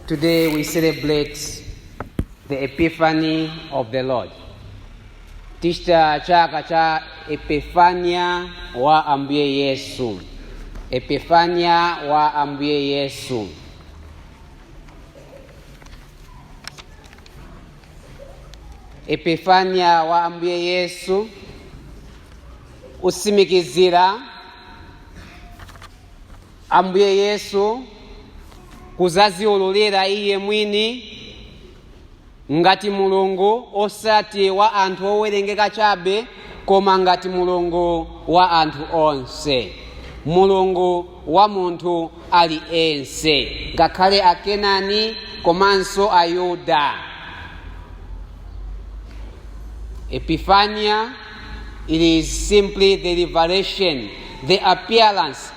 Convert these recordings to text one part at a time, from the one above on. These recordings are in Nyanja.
Today we celebrate the Epiphany of the Lord. Tichita chaka cha Epifania wa Ambuye Yesu. Epifania wa Ambuye Yesu. Epifania wa Ambuye Yesu usimikizira Ambuye Yesu kuzaziululira iye mwini ngati mulungu osati wa anthu owerengeka chabe koma ngati mulungu wa anthu onse mulungu wa munthu aliyense ngakhale akenani komanso ayuda Epiphania, it is simply the revelation, the appearance,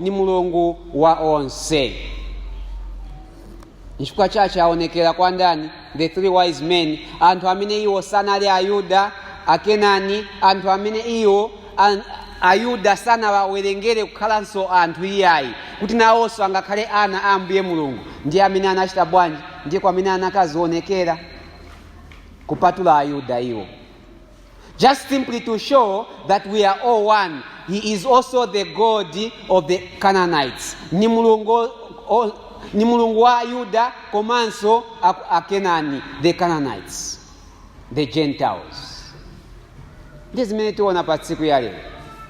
ni mulungu wa onse nchifukwa chache aonekera kwa ndani the three wise men anthu amene iwo sanali ayuda akenani anthu amene iwo ayuda sanawawerengere kukhalanso anthu iyayi kuti nawonso angakhale ana a ambuye mulungu ndiye amene anachita bwanji ndiye kwa amene anakazionekera kupatula ayuda iwo Just simply to show that we are all one. He is also the God of the Canaanites. Ni mulungu, o, ni mulungu wa Yuda komanso a- Akenani, the Canaanites, the Gentiles. Ndi zimene tiona pa tsiku ya lero.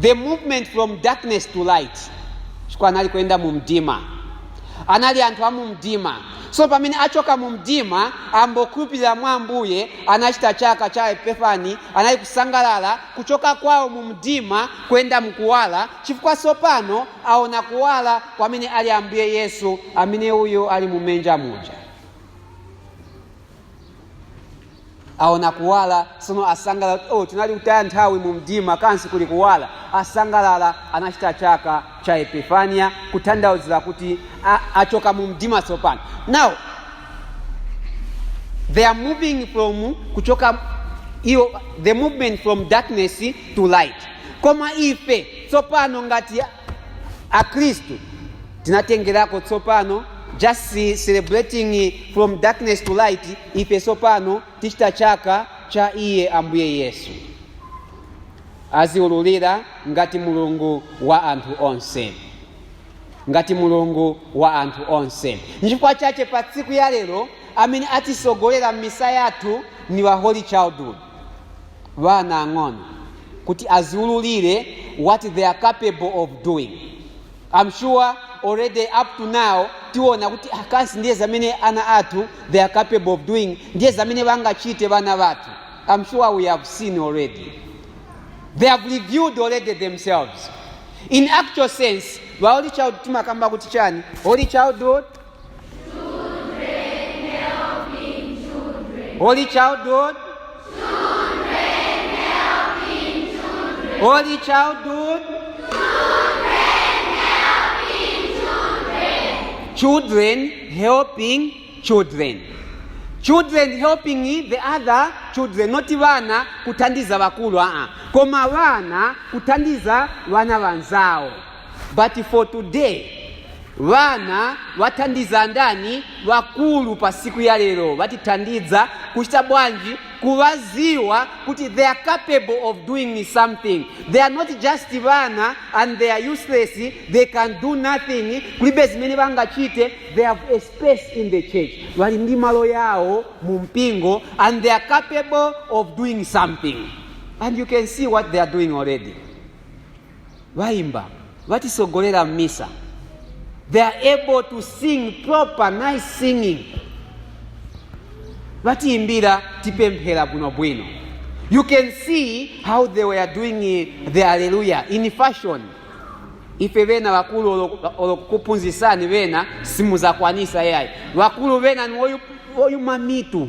the movement from darkness to light chifukwa anali kuyenda mu mdima anali anthu a mu mdima so pamene achoka mu mdima ayambokhulupirira mwa ambuye anachita chaka cha epifani anali kusangalala kuchoka kwawo mu mdima kuyenda mkuwala chifukwa sopano aona kuwala kwamene ali ambuye yesu amene uyu ali mumenja muja aona kuwala sono asangalala oh, tinali kutaya nthawi mu mdima kansi kuli kuwala asangalala anachita chaka cha epifania kutanthauzira kuti achoka mu mdima sopano now they are moving from kuchoka the movement from darkness to light koma ife sopano ngati akhristu tinatengerako sopano just ce- celebrating from darkness to light ife sopano tichita chaka cha iye ambuye yesu aziululira ngati mulungu wa anthu onse ngati mulungu wa anthu onse nchifukwa chache pa siku ya lero amene atisogolera misa yathu ni wa holy childhood bana ang'ono kuti aziululire what they are capable of doing i'm sure already up to now tiona kuti a kansi ndiye zamene ana athu they are capable of doing ndiye zamene bangachite bana bathu i'm sure we have seen already they have revealed already themselves in actual sense ba holy child timakamba kuti chani holy childhood Holy childhood. Holy childhood. Children helping children. Children helping the other children, not vana kuthandiza vakulu aa, koma vana kuthandiza vana vanzawo. but for today vana vathandiza ndani vakulu pa siku ya lero vatithandiza kuchita bwanji kuvaziwa kuti they are capable of doing something they are not just vana and they are useless they can do nothing kulibe zimene vangachite they have a space in the church vali ndi malo yawo mu mpingo and they are capable of doing something and you can see what they are doing already Baimba, batisogolera mmisa. They are able to sing proper nice singing. Batiimbira tipemphera bwino bwino. You can see how they were doing eh, the hallelujah in fashion. ife bena bakulu olo- olokukuphunzisani bena simuzakwanisa yayi bakulu bena niwoyuma mitu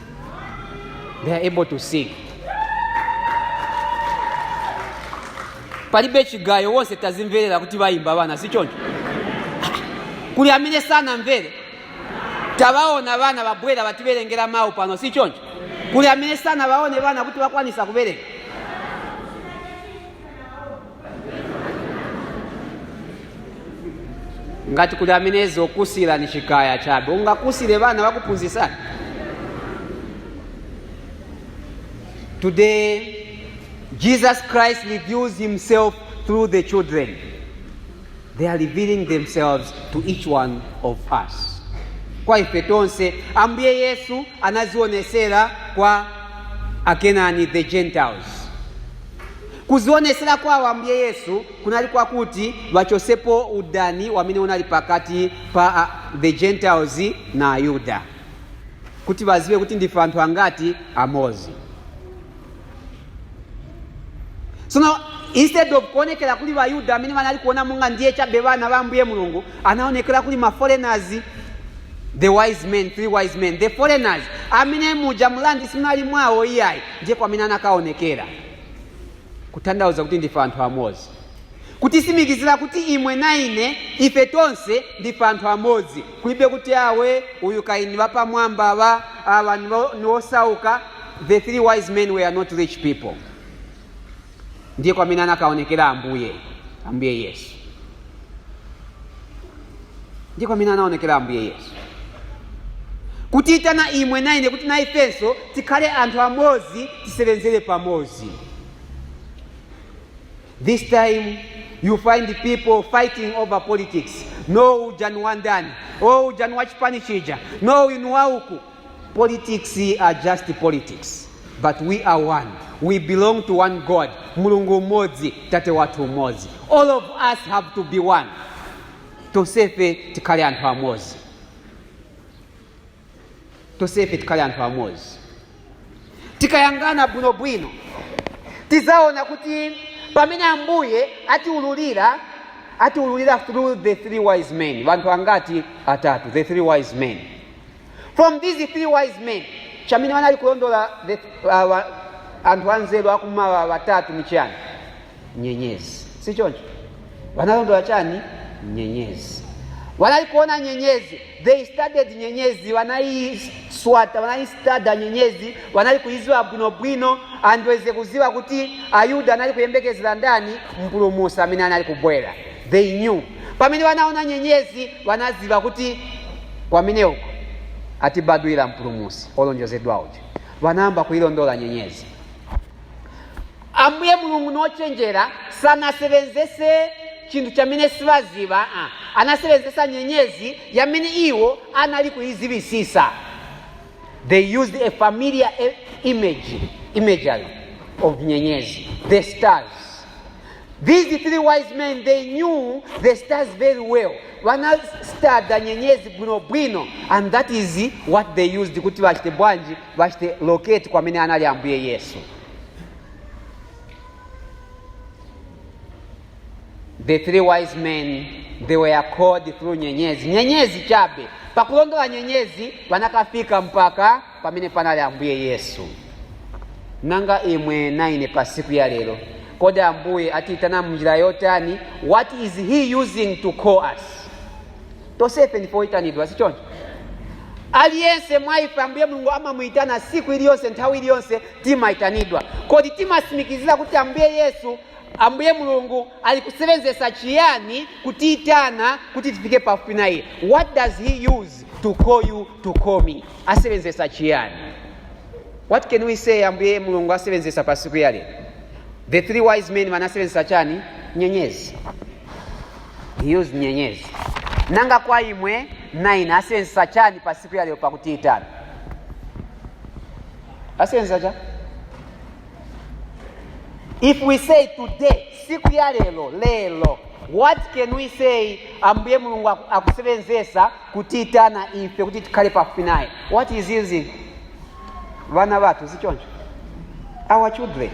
they are able to sing palibe chigayo wonse tazimverera kuti vayimba vana si choncho kuli amene sanamvere tawaona vana vabwera vativerengera mawu pano si choncho kuli amene sanavaone vana kuti vakwanisa kuverenga ngati kuli amene zokusira ni chikaya chabe ungakusire vana vakuphunzisani today jesus christ reveals himself through the children they are revealing themselves to each one of us kwa ife tonse ambuye yesu anazionesera kwa akenani the gentiles Kuzionesela kwa Ambuye Yesu kunali kwakuti bachosepo udani wamene unali pakati pa a, the Gentiles na Ayuda, kuti bazibe kuti ndife anthu angati amozi. Sono instead of kuonekela kuli bayuda amene banali kuona monga ndiye chabe bana ba Ambuye Mulungu, anaonekela kuli ma foreigners the wise men three wise men the foreigners amene muja mulandi simunali mwawo iyayi ndiye kwamene anakaonekera kutanthauza kuti ndife anthu amozi kutisimikizira kuti imwe na ine ife tonse ndife anthu amozi kulibe kuti awe uyu kai ni wapamwamba awa awa niwo- niwosauka the three wise men were not rich people ndiye kwamene anakaonekera ambuye ambuye yesu ndiye kwamene anaonekera ambuye yesu kutiyitana imwe na ine kuti na ifenso tikhale anthu amozi tisewenzere pamozi this time you find people fighting over politics no uja ni wandani o uja ni wachipani chija no uyu ni wa uku Politics are just politics but we are one we belong to one God Mulungu umodzi tate wathu umozi all of us have to be one tonsefe tikhale anthu amozi tonsefe tikhale anthu amozi tikayangana bwinobwino tizaona kuti pamene ambuye atiululira atiululira through the three wise men vanthu angati atatu the three wise men from these three wise men chamene wanali kulondola the, uh, wa- anthu anzeru akumawa watatu ni chani nyenyezi si choncho wanalondola chani nyenyezi wanali kuona nyenyezi they studied nyenyezi wanaiswata wanaistada nyenyezi wanali kuiziwa bwinobwino and wenze kuziwa kuti ayuda anali kuyembekezera ndani mpulumusi amene anali kubwera they knew pamene wanaona nyenyezi banaziba kuti kwamene uko atibadwira mpulumusi olonjezedwa uja banayamba kuilondola nyenyezi ambuye mulungu nochenjera sanasebenzese chinthu chamene sibaziba ah. anasebenzesa nyenyezi yamene iwo anali kuizibisisa they used a familiar e- image imagery of nyenyezi the stars These three wise men, they knew the stars very well. Vana studya nyenyezi bwino bwino and that is what they used kuti vachite bwanji vachite locate kwamene anali ambuye yesu. The three wise men, they were called through nyenyezi. Nyenyezi chabe. Pakulondola nyenyezi vanakafika mpaka pamene panali ambuye yesu nanga imwe na ine pa siku ya lero kodi ambuye atiyitana munjira yotani what is he using to call us tosefe ndife oyitanidwa sichoncho aliyense mwa ife ambuye mulungu amamuyitana siku iliyonse nthawi iliyonse timayitanidwa kodi timasimikizira kuti ambuye yesu ambuye mulungu ali kusebenzesa chiyani kutiyitana kuti tifike pafupi na iye what does he use to call you to call me asewenzesa chiyani? What can we say Ambuye Mulungu asewenzesa pa siku ya lero? The three wise men banasewenzesa chani? Nyenyezi. He used nyenyezi. Nanga kwa imwe nine asewenzesa chani pa siku ya lero pakutiitana? Asewenzesa chani? If we say today, siku ya lero, lero, what can we say Ambuye Mulungu aku- akusebenzesa kutiyitana ife kuti tikhale pafupi naye what is he using vana vathu sichoncho our children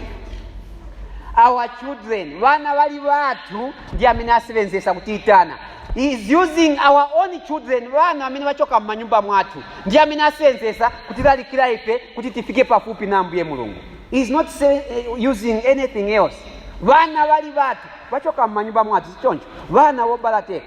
our children vana vali vathu ndi amene asevenzesa kutiyitana He is using our own children vana amene vachoka m'manyumba mwathu ndi amene asevenzesa kutilalikira ife kuti tifike pafupi na ambuye mulungu He is not say, eh, using anything else vana vali vathu vachoka m'manyumba mwathu sichoncho vana wobalateka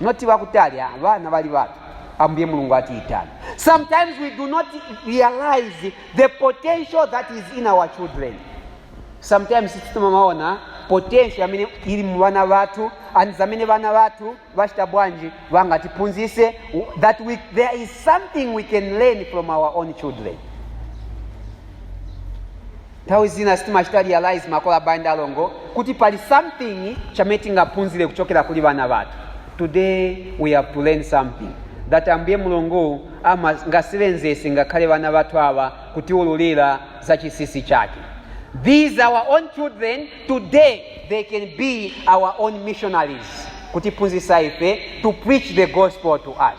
noti bakutali abana bali batu ambuye mulungu atiitana sometimes we do not realize the potential that is in our children sometimes sitituma maona potential amene ili mu bana bathu and zamene bana bathu bachita bwanji bangatiphunzise that we, there is something we can learn from our own children Nthawi zina sitimachita realize makolo abale ndi alongo kuti pali something chamene tingaphunzire kuchokera kuli bana bathu. Today we have to learn something that Ambuye Mulungu angasebenzese ngakhale bana bathu awa kutiululira za chisisi chake. These our own children today they can be our own missionaries kutiphunzisa ife to preach the gospel to us.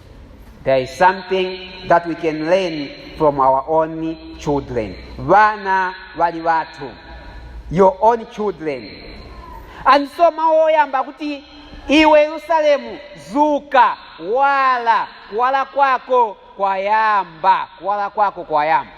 There is something that we can learn from our own children. Vana vali vathu, your own children. And so mawu oyamba kuti iwe Yerusalemu zuka wala kuwala kwako kwayamba kuwala kwako kwayamba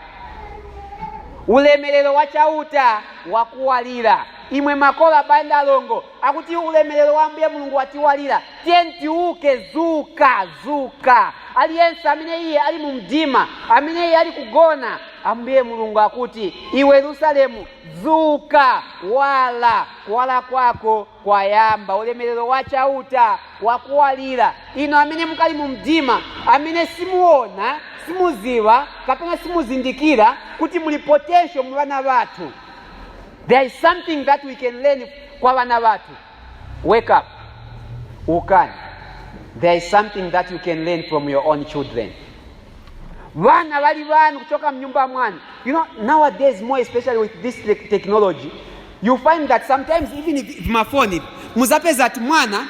ulemerero wa chauta wakuwalira imwe makolo abale ndi alongo akuti ulemerero wa ambuye mulungu watiwalira tiyeni tiuke zuka zuka aliyense amene iye ali mu mdima amene iye ali kugona ambuye mulungu akuti iwe yerusalemu zuka wala kuwala kwako kwayamba ulemerero wa chauta wakuwalira inu amene mukali mu mdima amene simuona simuziva kapena simuzindikira kuti muli potential mu vana vathu There is something that we can learn kwa vana vathu. Wake up. Ukani. There is something that you can learn from your own children. Vana vari vanhu kuchoka munyumba mwanu. You know, nowadays more especially with this te technology, you find that sometimes even if, if mafoni muzapeza kuti mwana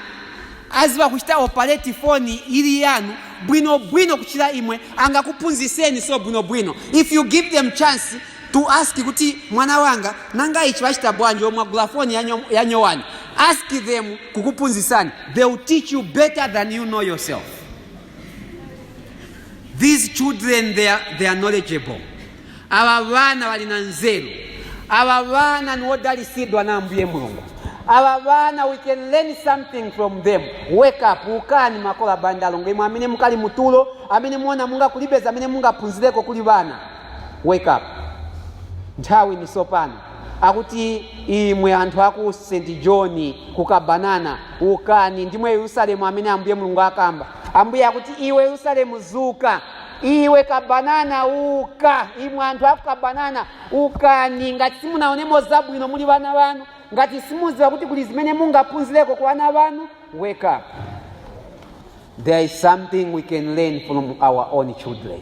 aziva kuchita operate foni iri yanu bwino bwino kuchira imwe angakuphunziseni so bwino bwino if you give them chance to ask kuti mwana wanga nanga ichi wachita bwanji mwagula foni yanyo- yanyowani ask them kukuphunzitsani they will teach you better than you know yourself these children they are, they are knowledgeable ava vana vali na nzeru ava vana ni wodalisidwa na ambuye mulungu ava vana we can learn something from them wake up ukani makolo abale ndi alongo imwe amene mukali mutulo amene muona monga kulibe zamene mungaphunzireko kuli vana Wake up! Nthawi ndi sopano. Akuti imwe anthu aku St John ku Kabanana ukani ndimwe Yerusalemu amene Ambuye Mulungu akamba. Ambuye akuti iwe Yerusalemu zuka. Iwe Kabanana uka. Imwe anthu aku Kabanana ukani ngati simunaonemo zabwino muli bana banu. Ngati simuziwa kuti kuli zimene mungaphunzireko ku bana banu. Wake up. There is something we can learn from our own children.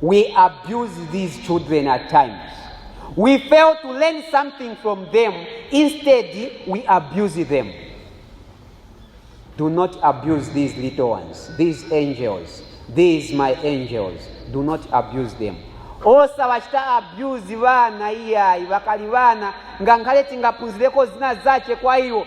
We abuse these children at times. We fail to learn something from them. Instead, we abuse them. Do not abuse these little ones, these angels, these my angels. Do not abuse them. osawachita abuse vana iyayi vakali vana ngakhale tingaphunzireko zina zace kwa iwo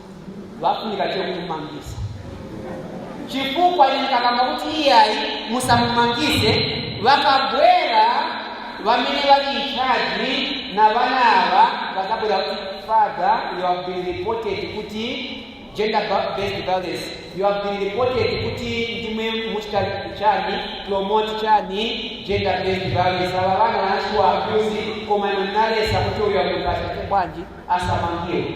wafunika che kumumangisa chifukwa inkakamba kuti iyayi musamumangize vakabwera vamene vali inchaji na vana ava vakabwera kuti father you have been reported kuti gender ba- based violence you have been reported kuti ndimwe muchita chani promote chani gender based violence ava vana vanashiwa abuzi koma nonalesa kuti uyo akungasate bwanji asamangiwe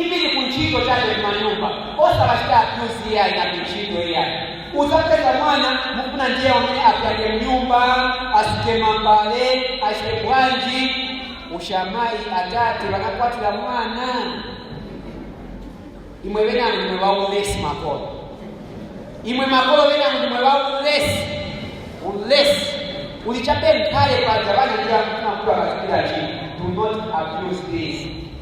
Even ku ntchito chabe mmanyumba osawachita abuse iyayi na ku ntchito iyayi. Udzapeza mwana mufuna ndiye wamene apyange mnyumba, asuke mambale, achite bwanji. Ushamayi atate banakwatila mwana. Imwe bena ndimwe baulesi makolo. Imwe makolo bena ndimwe baulesi. Ulesi. Uli chabe nkhale paja bana ndiye mufuna kuwa katikila chini. Do not abuse this.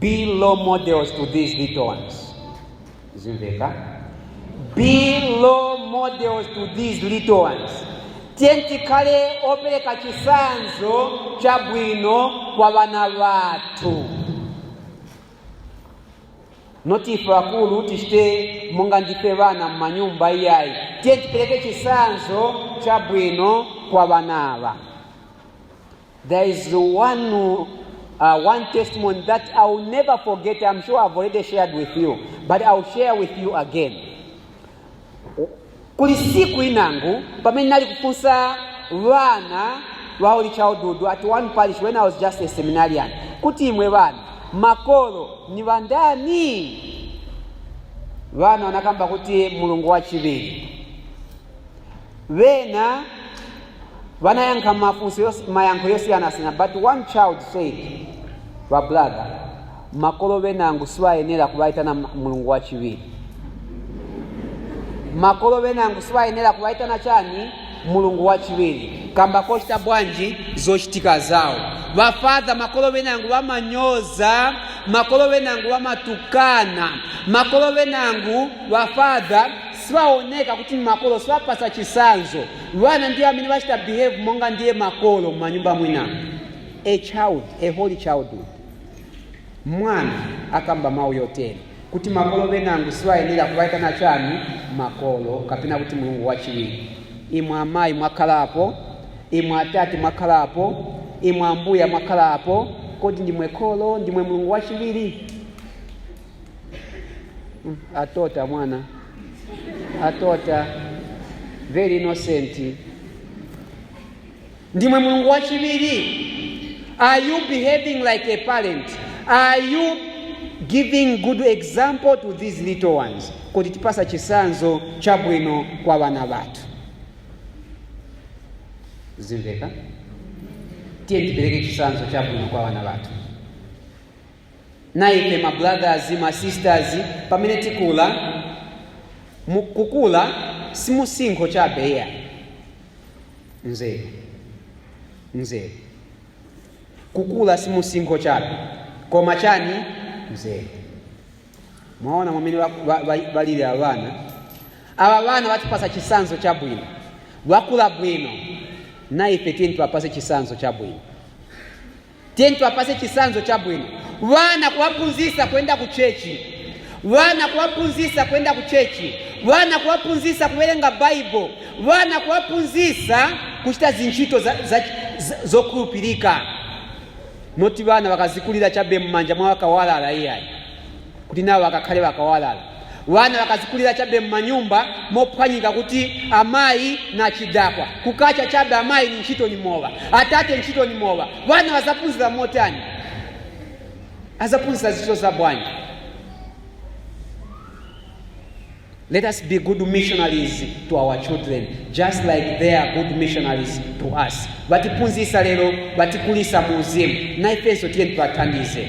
be role models to these little ones zimveka be role models to these little ones tiye tikhale opereka chisanzo chabwino kwa vana vathu noti ife akulu tichite monga ndife vana mmanyumba iyayi tiye tipereke chisanzo chabwino kwa vanava There is one, uh, one testimony that I will never forget. I'm sure I've already shared with you, but I'll share with you again. Kuli siku inangu, pamene nali kufunsa vana wa Holy Childhood at one parish when I was just a seminarian, kuti imwe vana, makolo ni vandani? Vana wanakamba kuti mulungu wachiviri. Bena banayankha mafunso yos- mayankho yosiyanasiyana but one child said ba brother makolo benangu sibayenera kubayitana m- mulungu wachiwiri makolo benangu sibayenera kubayitana chani mulungu wachiwiri kamba kochita bwanji zochitika zawo ba Father makolo benangu bamanyoza makolo benangu bamatukana makolo benangu ba Father sibaoneka kuti ni makolo sibapasa chisanzo bana ndiye amene bachita behave monga ndiye makolo mumanyumba mwina a child a holy childhood mwana akamba mawu yotere kuti makolo benangu sibayenera kubaitana chani makolo kapena kuti mulungu wachiwiri imwe amayi mwakhalapo imwe atate mwakhalapo imwe ambuya mwakhalapo kodi ndimwe kholo ndimwe mulungu wachiwiri Mm, atota mwana atota very innocent ndimwe mulungu wachiwiri are you behaving like a parent are you giving good example to these little ones kuti tipasa chisanzo chabwino kwa vana vathu zimveka tiye tipereke chisanzo chabwino kwa vana vathu na ife ma brothers ma sisters pamene tikula mu- kukula simusinkho chabe iya nzeru nzeru kukula simusinkho chabe koma chani nzeru mwaona mwamene wa- wa- wa- balili aba bana aba bana batipasa chisanzo cha bwino bakula bwino na ife tiyeni tibapase chisanzo cha bwino Tiyeni tiwapase chisanzo chabwino wana kuwaphunzisa kuyenda ku chechi wana kuwaphunzisa kuyenda ku chechi wana kuwaphunzisa kuwerenga baibo wana kuwaphunzisa kuchita zintchito za, za, za, zokhulupirika moti wana wakazikulira chabe mmanja mwa wakawalala iyayi kuti nawo akakhale bakawalala wana bakazikulira chabe mmanyumba mophwanyika kuti amayi na chidakwa kukacha chabe amayi ni ntchito ni mowa atate ntchito ni mowa wana bazaphunzira motani azaphunzira zintchito za bwanji Let us be good missionaries to our children, just like they are good missionaries to us. Batiphunzisa lero, batikulisa muuzimu, na ifenso tiyeni tiwathandize.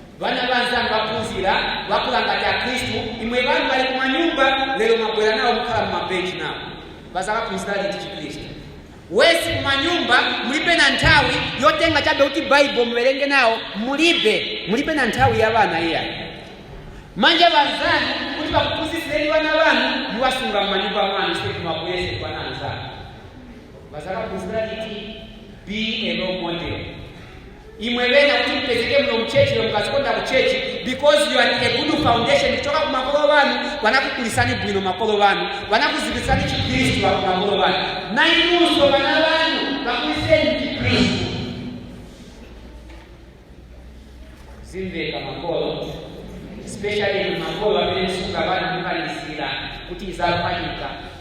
Bana banzanu baphunzira bakula ngati akhristu imwe banu bali kumanyumba lero mwabwera nawo mukhala mumabenchi nawo bazakaphunzira liti chikhristu worse kumanyumba mulibe na nthawi yotenga chabe kuti baibo muwerenge nawo mulibe mulibe na nthawi ya bana iyayi manje banzanu kuti bakuphunzitsireni bana banu muwasunga mumanyumba mwanu sikuti mwabweze kwa anzanu bazakaphunzira liti be a role model imwe bena kuti mpezeke muno mchechi lomwe mukazikonda kuchechi because you are a good foundation kuchoka ku makolo banu banakukulisani bwino makolo banu banakuzibisani chikristu wa makolo banu na inunso bana banu bakuliseni chikristu zimveka makolo especially makolo amene musunga bana mukalisira kuti izakwanika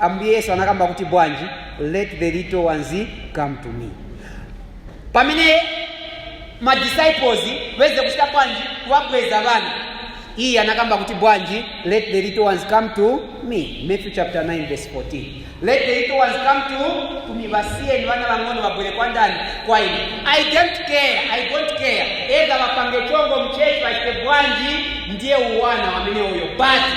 ambuye yesu anakamba kuti bwanji let the little ones come to me pamene madisciples weze kuchita bwanji kuwabweza vana iye anakamba kuti bwanji let the little ones come to me matthew chapter 9 verse 14 let the little ones come to, to me vasiyeni vana vang'ono vabwere kwa ndani kwa ine i don't care i don't care either vapange chongo mchechi vachite bwanji ndiye uwana wamene uyo basi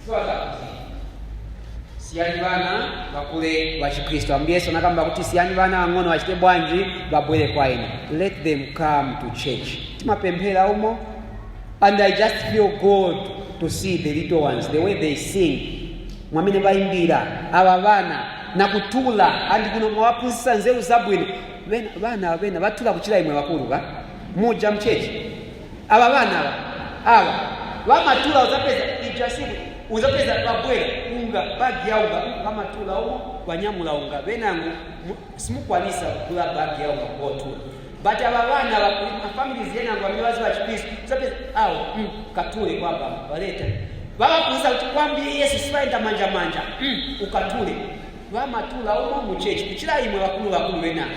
Chifukwa chakuti siyani bana bakule wa chikristu ambuye yesu anakamba kuti siyani bana ang'ono achite bwanji babwere kwa ine let them come to church timapemphera umo and i just feel good to see the little ones the way they sing mwamene bayimbira aba bana nakutula andi kuno mwawaphunzitsa nzeru zabwino Bena- bana bena batula kuchira imwe bakulu ba muja mchechi aba bana aba aba bamatula uzapeza ijasimu uzapeza babwera unga bagi ya unga bamatula umo banyamula unga benangu mu- simukwanisa kugula bagi ya unga kotula but aba bana aba kuli mafamilies yenangu amiwazi wa chikristu uzapeza awo mm, katule kwamba baleta babakuuza kuti kwambiri yesu sibayenda manja manja mm, ukatule bamatula umo muchechi kuchira imwe bakulu bakulu benangu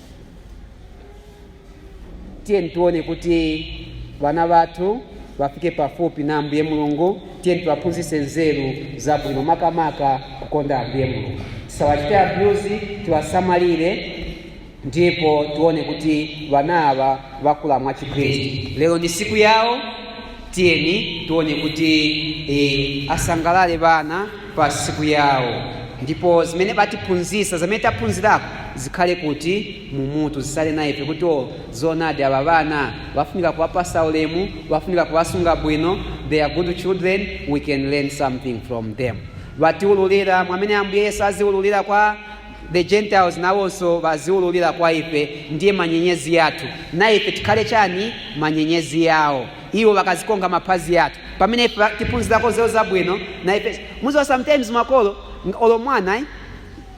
tiyeni tione kuti vana vathu vafike pafupi na ambuye mulungu tiyeni tiwaphunzitse nzeru zabwino makamaka kukonda ambuye mulungu tisawachite abuse tiwasamalire ndipo tione kuti vana ava vakula mwachikhristu lero ndi siku yawo tiyeni tione kuti eh, asangalale vana pa siku yawo ndipo zimene batiphunzisa zamene taphunzirako zikhale kuti mumutu zisale na ife kuti o zonadi aba bana bafunika kuwapasa ulemu bafunika kuwasunga bwino they are good children we can learn something from them batiululira mwamene ambuye yesu aziululira kwa the gentiles nawonso baziululira kwa ife ndiye manyenyezi yathu na ife tikhale chani manyenyezi yawo Iwo bakazikonka mapazi yatu pamene ife tipunzilako zeo zabwino na ife muziwa sometimes makolo olo mwana eh?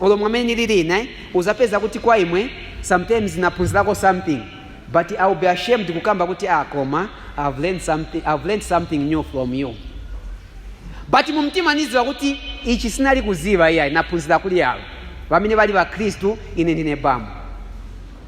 olo mwamene nililina eh? uzapeza kuti kwa imwe sometimes napunzilako something but iwill be ashamed kukamba kuti ah, koma I've learned something, I've learned something new from you but mumtima niziwa kuti ichi sinali kuziva iyayi napunzila kuli alo vamene vali vakristu ine ndine bambo